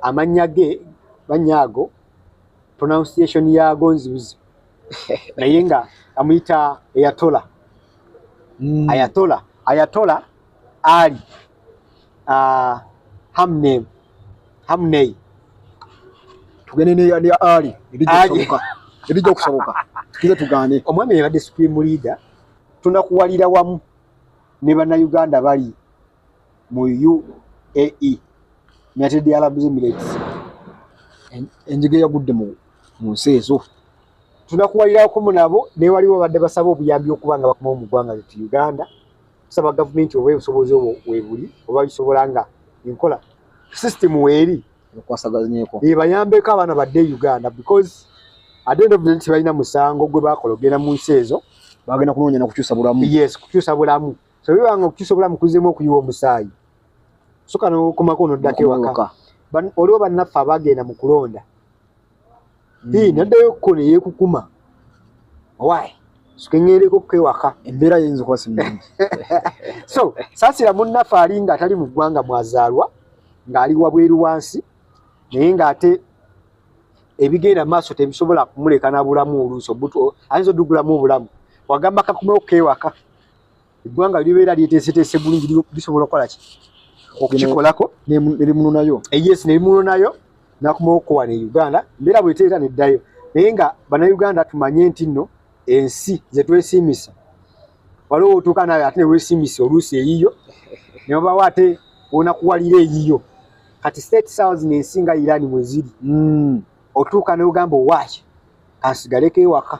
amannya ge mannya ago pronunciation yaago nzibuzi naye nga amuyita eyatola mm. ayatola ayatola ali uh, hamne hamnei tugende ne ali ali ebijja okusoboka tukize tugaane omwami yabadde supreme leader tunakuwalira wamu ne bannayuganda bali mu UAE United Arab Emirates enjige yagudde mu nsi ezo tunakuwalirako mu nabo naye waliwo badde basaba obuyambi okuba nga bakomawo mu ggwanga lyettu Uganda tusaba gavumenti oba obusobozi obwo webuli oba bisobola nga enkola system weeri ebayambeko abaana badde e Uganda because at the end of the day tebalina musango gwe bakola ogenda mu nsi ezo bagenda kunoonya na kukyusa bulamu yes kukyusa bulamu so biba nga okukyusa obulamu kuzzemu okuyiwa omusaayi soka nokumako noddako ewaka oliwo bannaffe abagenda mu kulonda hmm. naddayo okuko neyekukuma owaayi sukeŋereko kewaka embeera yinza okuba simungi so saasira munnaffe ali nga atali mu ggwanga mwazaalwa ng'ali wabweru wansi naye ng'ate ebigenda maaso tebisobola kumuleka na bulamu oluusi ayinza odugulamu obulamu wagamba kakumewo kewaka eggwanga libeera lyeteeseteese bulungi lisobola okukola ki okukikolako nerimunonayo eh, yes nerimunonayo nakumawo okukowa ne uganda mbeera bweteera neddayo naye nga banauganda tumanye nti nno ensi zetwesiimisa waliwo otuuka nayo ate newesiimisa oluusi eyiyo nebabawo ate onakuwalira eyiyo kati state south nensi nga irani mweziri hmm. otuuka neogamba owaki kansigaleko ewaka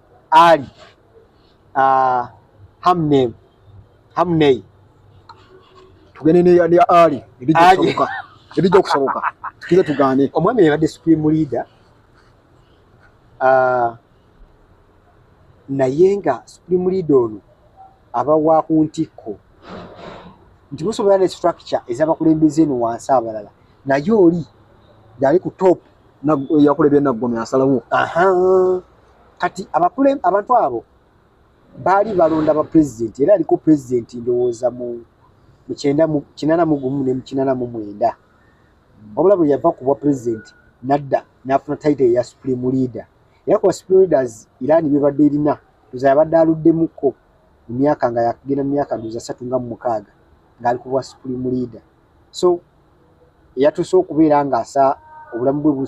Ali uh, Hamney Hamney tugende ne ya Ali ebijja kusoboka ebijja kusoboka tukize tugane omwami yabadde supreme leader uh, naye nga supreme leader ono aba wa ku ntikko nti musobola ne structure ezabakulembeze eno wansi abalala naye oli yali ku top yakulebye naggome asalawo kati abakule abantu abo baali balonda ba president era aliko president ndowooza mu mukyenda mu kinana mu gumu ne mukinana mu mwenda wabula bwe yava ku bwa president nadda n'afuna title ya supreme leader era kuba supreme leaders irani bebadde erina ndoza yabadde aluddemuko mu myaka nga yakugenda mu myaka ndoza satu nga mu mukaaga ng'ali ku bwa supreme leader so eyatuuse okubeera ng'asa obulamu bwe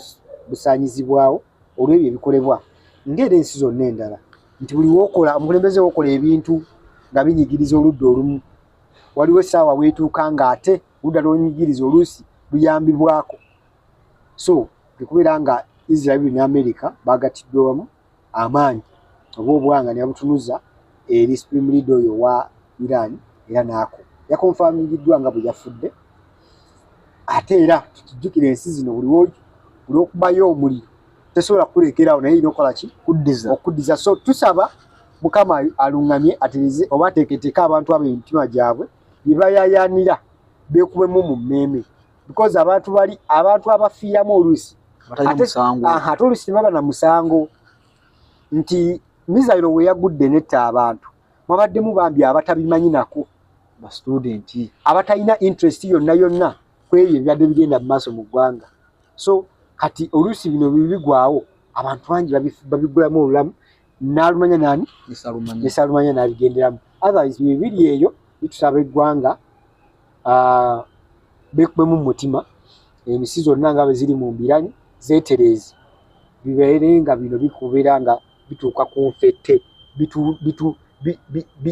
busaanyizibwawo olw'ebyo ebikolebwa ng'era ensi zonna endala nti buli wokola omukulembeze wokola ebintu nga binyigiriza oludda olumu waliwo essaawa weetuuka ng'ate ludda lwonyigiriza oluusi luyambibwako so tekubeera nga israel ne america bagattiddwa wamu amaanyi oba obwanga nebabutunuza eri supreme leader oyo wa iran era naako yakonfamingiddwa nga bwe yafudde ate era tukijjukira ensi zino buli olwokubayo omuliro tesobola kukulekerawo naye ina okola ki kuddiza okuddiza so tusaba mukama aluŋŋamye atereze oba ateeketeeka abantu abo emitima gyabwe bye bayayaanira beekubemu mu mmeeme because abantu bali abantu abafiiramu oluusi ate oluusi tebaba na musango nti mizayiro we yagudde netta abantu mwabaddemu bambi abatabimanyi nako ba student abatalina interest yonna yonna kwebyo ebyadde bigenda mu maaso mu ggwanga so kati oluusi bino bibigwawo abantu bangi babigulamu olulamu nalumanya nani nesalumanya nabigenderamu otherwise bibiri eyo bitusaba eggwanga ah, bekubemu mumutima emisi zonna nga bweziri mu mbirani zetereezi bibeere nga bino bikubeera nga bituuka ku nfette bitu, bitu, bi, bi, bi,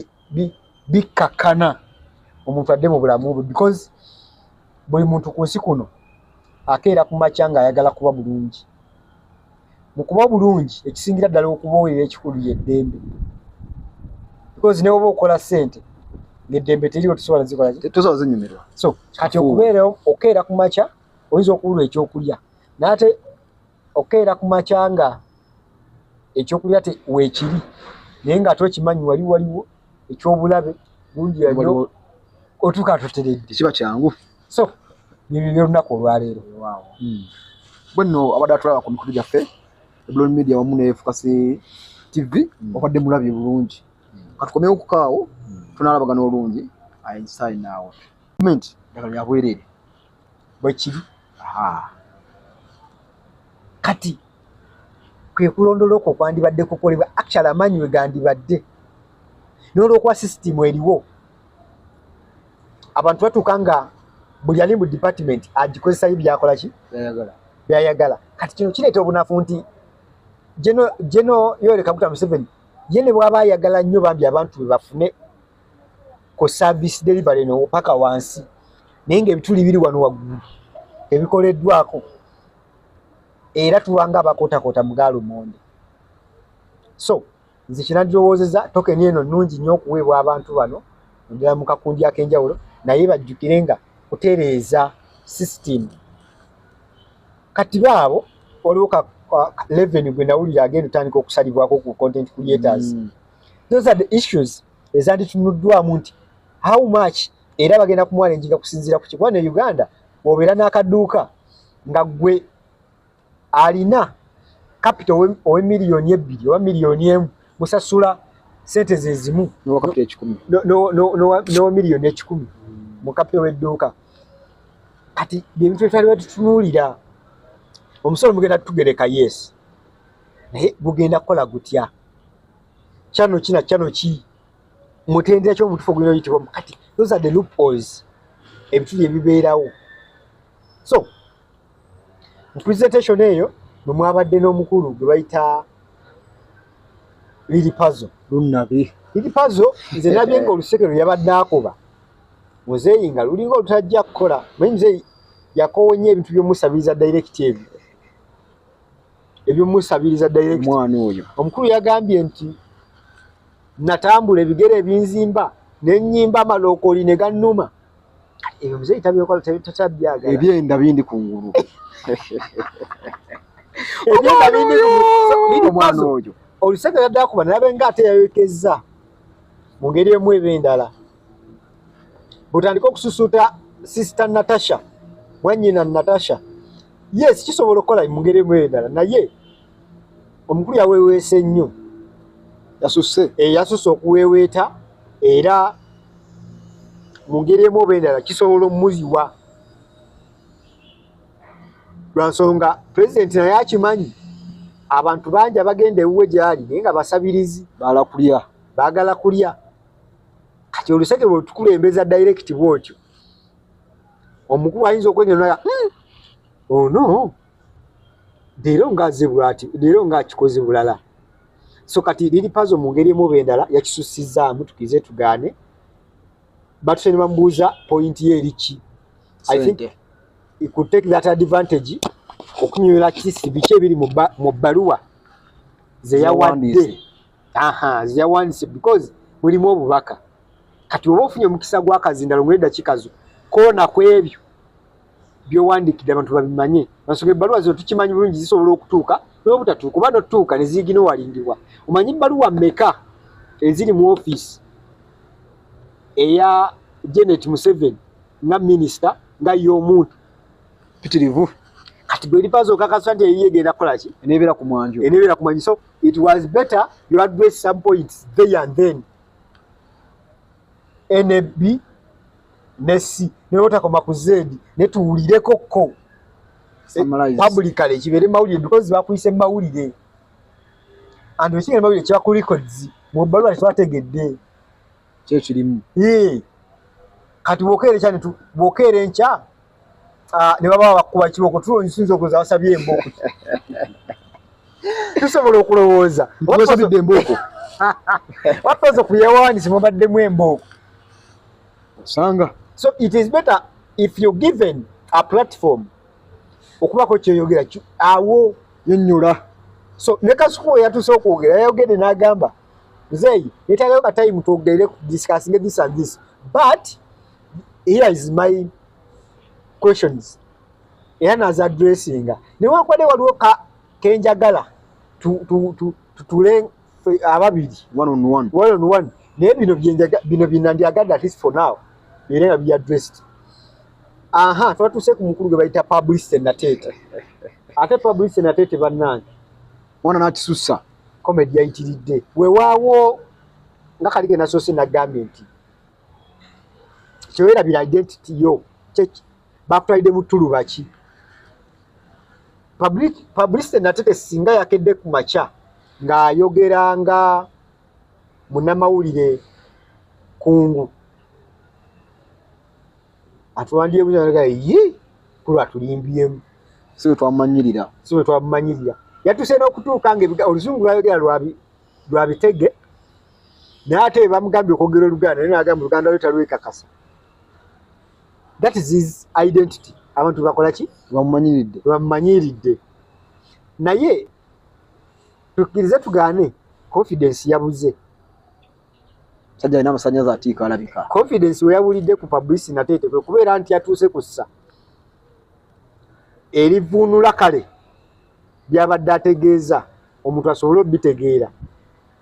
bikkakkana omuntu adde mu bulamu bwe because buli muntu ku nsi kuno akeera ku makya ng'ayagala kuba bulungi mu kuba bulungi ekisingira ddala okuba owulira ekikulu yeddembe because ne woba okola ssente ng'eddembe teriwo tusobola zikola zinyumirwa so kati okubeerawo okeera ku makya oyinza okuwulwa ekyokulya naate okukeera ku makya nga ekyokulya weekiri naye nga ate okimanyi wali waliwo ekyobulabe bungi yanyo otuuka tuteredde kiba kyangu so byebyo byolunaku olwaleero hmm. bwenno abadde atulaba ku mikutu gyaffe eblon media wamu nefukasi tv hmm. obadde mulabye bulungi hmm. katukomewo kukaawo tunalabagana olungi inside now comment yabwerere bwekiri kati kwekulondola okwo kwandibadde kukolebwa actual amaanyi we gandibadde n'olwokuba sisitimu eriwo abantu batuuka nga buli ali mu department agikozesayo byakola ki byayagala kati kino kireeta obunafu nti geno yoleka kuta museveni ye ne bwaba ayagala nnyo bambi abantu bebafune ku service delivery no paka wansi naye nga ebituli biri wano waggulu ebikoleddwako era tubanga abakotakota mugaalo monde so nze kinadowozeza tokeni eno nungi nnyo okuweebwa abantu bano ndala mu kakundi ak'enjawulo naye bajjukire nga kutereeza system kati baabo waliwo ka leveni gwe nawulira agenda otandika okusalibwako ku content creators mm. those are the issues ezanditunuddwamu nti how much era bagenda kumwana enjiga kusinziira ku kikuba ne uganda obeera n'akaduuka nga gwe alina kapita owe miliyoni ebbiri oba miliyoni emu musasula sente zezimu nowa miliyoni ekikumi mu kapita ow'edduuka kati byebintu byetwali batutunuulira omusolo mugenda tugereka yes naye gugenda kukola gutya kyano kina kyano ki mutendera kyo mutufu gulina yitibwa kati those are the loopholes ebitu bye bibeerawo so mu presentation eyo mwe mwabadde n'omukulu gwe bayita lili pazo lunnabi lili pazo nze nabye nga oluseke lwe yabadde akoba muzeeyi nga lulinga olutajja kukola naye muzeeyi yakoowa nnyo ebintu by'omusabiriza direct ebyo ebyomusabiriza direct mwana oyo omukulu yagambye nti natambula ebigere ebinzimba nenyimba amalokoli ne gannuma ebyo muzeeyi tabyokola takyabyaga ebyenda bindi ku ngulu ebyenda bindi ku mwana oyo olusega yadde akuba nalabe nga ate yayokezza mu ngeri emu eba endala butandika okususuuta sister natasha mwanyina natasha yes kisobola okukola mu ngeri emu endala naye omukulu yaweeweese nnyo yasusse eh, yasusse okuweeweeta era mu ngeri emu oba endala kisobola omuziwa lwa nsonga pulezidenti naye akimanyi abantu bangi abagenda ewuwe gyali naye nga basabirizi baala kulya baagala kulya kati oluseke lwetukulembeza direct bwotyo omukulu ayinza okwengenera hmm, ono oh leero ngaaze bwati leero ngaakikoze bulala so kati liri pazo mu ngeri emuba endala yakisusizzaamu tukize tugaane batuse ne bamubuuza pointi ye eriki i think it could take that advantage okunyola kisi biki ebiri mu bbaluwa zeyawadde aha ziyawandise because mulimu obubaka kati oba ofunye omukisa gwakazindalo mu eddakiika zo koona ku ebyo byowandikidde abantu babimanye ensonga ebbaluwa zino tukimanyi bulungi zisobola okutuuka n'obutatuuka oba notuuka ne ziyigina owalindibwa omanyi ebbaluwa meka eziri mu ofiisi eya janet museveni nga minisita nga ye omuntu pitirivu kati bwe lipaza okakasa nti eyiye egenda kukola ki enebeera ku mwanjo enebeera ku mwanjo so it was better you address some points there and then nb ne c newotakoma ku z netuwulireko ko publicale kibeere mawulire because bakuyise mawulire and wekiga mawulire kiba ku records mubaluwa tetwategedde kyekirimu kati bwokeera enkya bwokeera enkya ah, ne baba bakuba kibooko tulo nsinza okuza basabye embooko tusobola okulowooza wasabidde embooko wapaza kuyawandisi mubaddemu embooko osanga so it is better if you given a platform okubako kyoyogera awo yonyola so ne kasuku yatuse okwogera yayogedde n'agamba muzeeyi netagayo katayimu twogerere discussing this and this but here is my questions era naza dressinga newankubadde waliwo kenjagala tutule ababiri naye bino byenandyagadde atleast for now era nga biya dressed aha twatuuse ku mukulu gwe bayita publicity nateete ate publicity nateete bannange mwana nakisussa comedy yayitiridde wewaawo nga kalige nasoose nagambye nti tewerabira identity yo kyeki bakutwalidde mu tuluba ki publicity natete singa yakedde ku makya ng'ayogera nga munamawulire kungu atuwandiyebuzanaga ye kulwa tulimbyemu si bwe twamumanyirira si bwe twamumanyirira yatuse n'okutuuka nga oluzungu lwayogera lwabitege naye ate bamugambye okwogera oluganda naye nagamba oluganda lwe talwekakasa that is his identity abantu bakola ki bamumanyiridde bamumanyiridde naye tukkirize tugaane confidence yabuze sajja alina amasanyaza atiika alabika confidence weyabulidde ku publicity natetekwe kubeera nti yatuuse ku ssa erivuunula kale byabadde ategeeza omuntu asobole obitegeera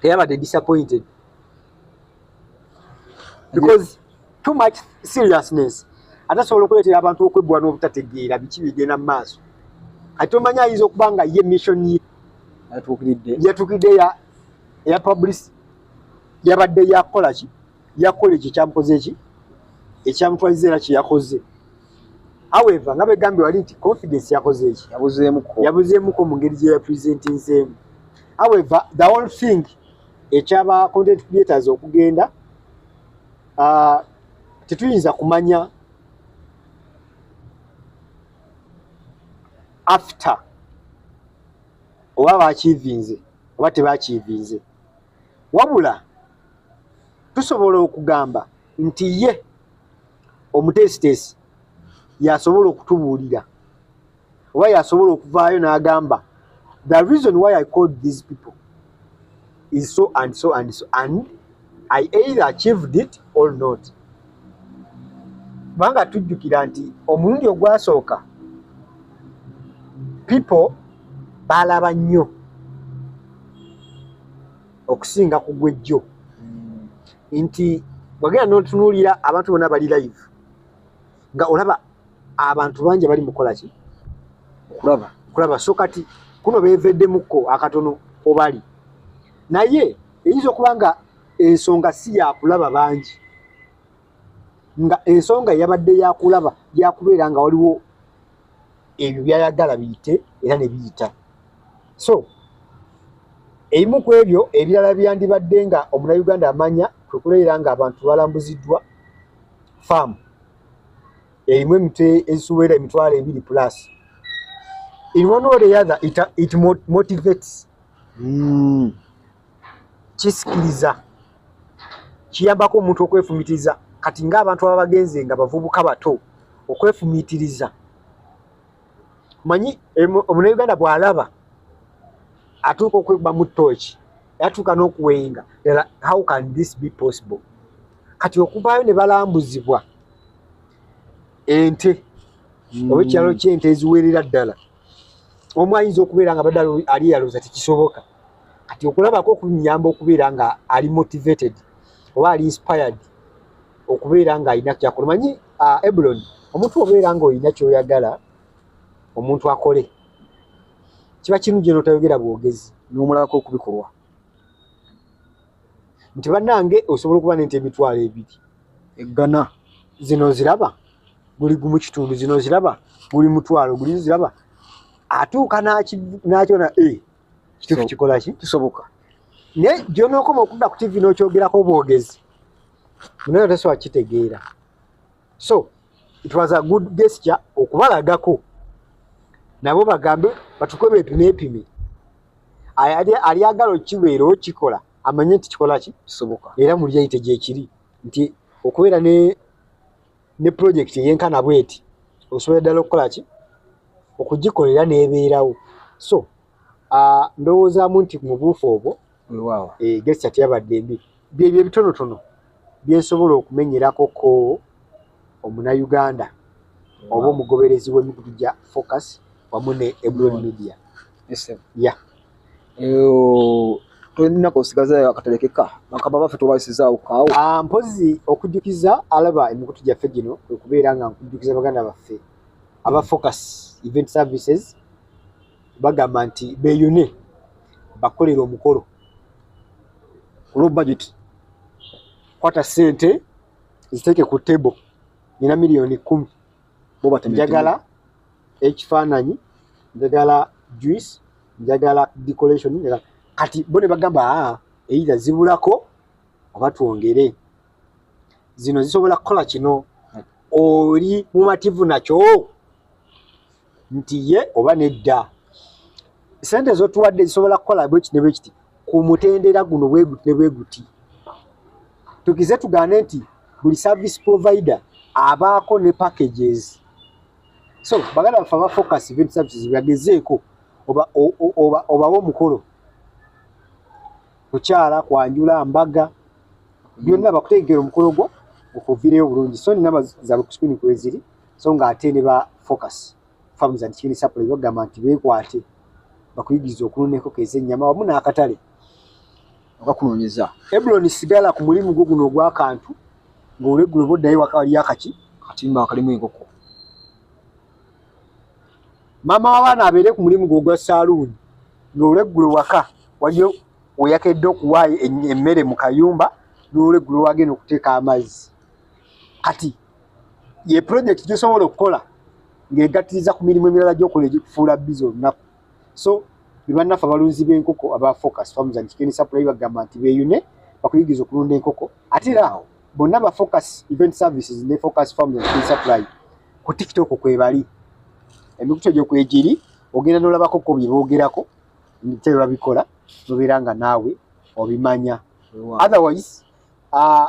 teyabadde disappointed because too much seriousness ate asobola okuleetera abantu okweggula n'obutategeera biki bigenda mu maaso ate omanyi ayinza okuba nga ye mission ye yatuukiridde ya publicity yabadde yakukola ki yakola ekyo kyamukoze eki ekyamutwaliza era kyeyakoze however nga begambye wali nti confidence yakoze eki yabuzeemuko mu ngeri gye yapresentinzeemu however the whole thing ekyaba content creators okugenda uh, tetuyinza kumanya after oba bakiivinze oba tebakiivinze wabula tusobola okugamba nti ye omuteesiteesi yasobola okutubuulira oba yasobola okuvaayo n'agamba the reason why i called these people is so and so and so and i either achieved it or not kubanga tujjukira nti omulundi ogwasooka pipo baalaba nnyo okusinga ku gwejjo hmm. nti wagenda notunuulira abantu bona bali live nga olaba abantu bangi bali mukola ki kulaba kulaba so kati kuno beveddemukko akatono obali naye eyinza okuba nga ensonga si yakulaba bangi nga ensonga yabadde yakulaba yakubeera nga waliwo ebyo byayagala biyite era nebiyita so ebimu ku ebyo ebirala byandibadde nga omunauganda amanya kwekuleera nga abantu balambuziddwa faamu erimu emitwe ezisuubera emitwalo ebiri plus in one way or the other it, it motivates mm. kisikiriza kiyambako omuntu okwefumitiriza kati ngaabantu aba bagenze nga bavubuka bato okwefumitiriza manyi omunauganda bwalaba atuuka okwegbamu tooki yatuuka n'okuwenga ela how can this be possible kati okuvaayo ne balambuzibwa ente mm. oba ekyalo kyente eziwerera ddala omu ayinza okubeera nga badala ali yalooza tekisoboka kati okulabako okunyamba okubeera nga ali motivated oba ali inspired okubeera nga alina kyakola manyi uh, eblon omuntu obeera nga olina kyoyagala omuntu akole kiba kirungi notayogera bwogezi nomulabako okubikolwa nti banange osobola okuba nente emitwalo ebiri eggana zino ziraba guli gumu kitundu zino ziraba guli mutwalo guli ziraba atuuka nakyona e eh, kituufu kikola ki kisoboka naye gyonookoma okudda ku tivi n'okyogerako obwogezi munaye otasobola kitegeera so it was a good gesture okubalagako nabo bagambe batukwe bepimeepime alyagala okibeera okikola amanye nti kikola ki kisoboka era mulyeyite gyekiri nti okubeera ne ne pulojekiti eyenkana bweti osobola ddala okukola ki okugikolera nebeerawo so ndowoozamu nti mubuufu obwo weewaawo eh, gesita teyabadde mbi byebyo ebitonotono byensobola okumenyerako ko omunauganda oba omugoberezi w'emikutu gya focus wamu ne ebron media ya tolina kosigazayo akaterekeka bakaba baffe tobasizaawo kaawo ah, mpozi okujjukiza alaba emikutu gyaffe gino okubeera nga nkujjukiza baganda baffe aba focus event services bagamba nti beyune bakolera omukolo olwo budget kwata sente ziteeke ku table nina miliyoni kumi njagala ekifaananyi njagala juice njagala decoration njagala kati bo ne bagamba aa ah, eitha zibulako oba twongere zino zisobola kukola kino oli mumativu nakyo nti ye oba nedda sente zotuwadde zisobola kukola bweki ne bwekiti ku mutendera guno bweguti ne bweguti tukize tugaane nti buli service provider abaako ne packages so bagala bafe abafocus event services bagezeeko obawa omukolo kukyala kwanjula mbaga byonna bakutegekera omukolo gwo okuvireyo obulungi so nina zabe kusukuni kweziri so nga ate ne ba focus farms and chicken supply bagamba nti bekwate bakuyigiriza okulunda enkoko ez'ennyama wamu n'akatale okakunoonyeza ebuloni sigala ku mulimu gwo guno ogw'akantu ng'olweggulo oba oddayo waka waliyo akaki katimba akalimu enkoko maama w'abaana abeere ku mulimu gwo ogwa saaluuni ng'olweggulo waka waliyo weyakedde okuwaayo emmere mu kayumba n'olweggulo wagenda okuteeka amazzi kati ye project gyosobola okukola ng'egattiriza ku mirimu emirala gyokola egikufuula biza olunaku so bebannaffe abalunzi b'enkoko aba focus farms and chicken supply bagamba nti beeyune bakuyigiriza okulunda enkoko ate era awo bonna ba focus event services ne focus farms and chicken supply ku tiktok kwebali emikutu egyo kwegiri ogenda n'olabako ko bye boogerako nte babikola nobeera nga naawe obimanya otherwise uh,